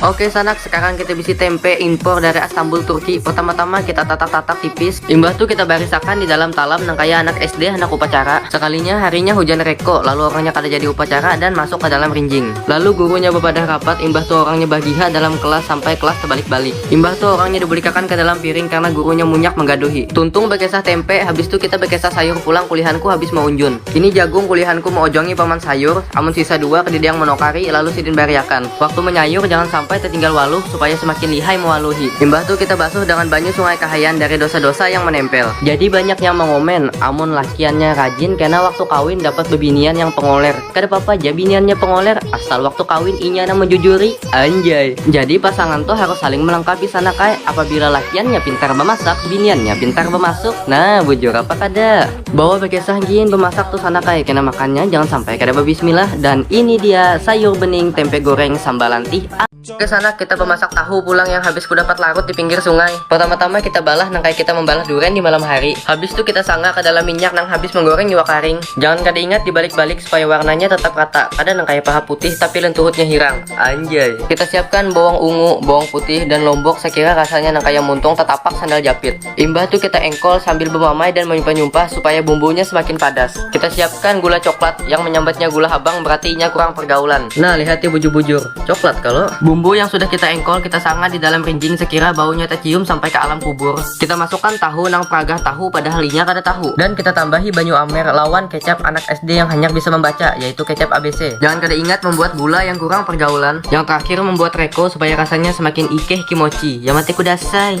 Oke sanak, sekarang kita bisi tempe impor dari Istanbul Turki. Pertama-tama kita tatak-tatak tipis. Imbah tuh kita barisakan di dalam talam nang kaya anak SD handak upacara. Sekalinya harinya hujan reko, lalu orangnya kada jadi upacara dan masuk ke dalam rinjing. Lalu gurunya bepadah rapat, imbah tuh orangnya bagiha dalam kelas sampai kelas tebalik-balik. Imbah tuh orangnya dibulikakan ke dalam piring karena gurunya munyak menggaduhi. Tuntung bekesah tempe, habis tuh kita bekesah sayur pulang kulihanku habis meunjun. Ini jagung kulihanku meojongi paman sayur, amun sisa dua kedede yang menokari, lalu sidin bariakan. Waktu menyayur jangan sampai tetinggal waluh supaya semakin lihai mewaluhi. Imbah tu kita basuh dengan banyu sungai kahayan dari dosa-dosa yang menempel. Jadi banyak yang mengomen, amun lakiannya rajin kena waktu kawin dapat bebinian yang pengoler. Kada papa ja biniannya pengoler, asal waktu kawin inya nang menjujuri. Anjay. Jadi pasangan tu harus saling melengkapi sana kae, apabila lakiannya pintar memasak, biniannya pintar memasuk. Nah, bujur apa kada? Bawa bekesah gin bemasak tuh sanak ay kena makannya jangan sampai kada bebismillah dan ini dia sayur bening tempe goreng sambal lantih ay. Oke sanak kita bemasak tahu pulang yang habis kudapat larut di pinggir sungai. Pertama tama kita balah nang kaya kita membalah duren di malam hari. Habis tuh kita sanga ke dalam minyak nang habis menggoreng iwak karing. Jangan kada ingat di balik balik supaya warnanya tetap rata kada nang kaya paha putih tapi lentuhutnya hirang. Anjay. Kita siapkan bawang ungu, bawang putih dan lombok sekira rasanya nang kaya muntung tetapak sandal japit. Imbah tu kita engkol sambil bemamai dan menyumpah-nyumpah supaya bumbunya semakin padas. Kita siapkan gula coklat, yang menyambatnya gula habang berarti inya kurang pergaulan. Nah, lihati bujur-bujur, coklat kalo. Bumbu yang sudah kita engkol kita sanga di dalam rinjing sekira baunya tecium sampai ka alam kubur. Kita masukkan tahu nang pragah tahu padahal inya kada tahu. Dan kita tambahi banyu amer lawan kecap anak SD yang hanyar bisa membaca, yaitu kecap abc. Jangan kada ingat membuat gula yang kurang pergaulan. Yang terakhir membuat reko supaya rasanya semakin ikeh kimochi. Yamate kudasai!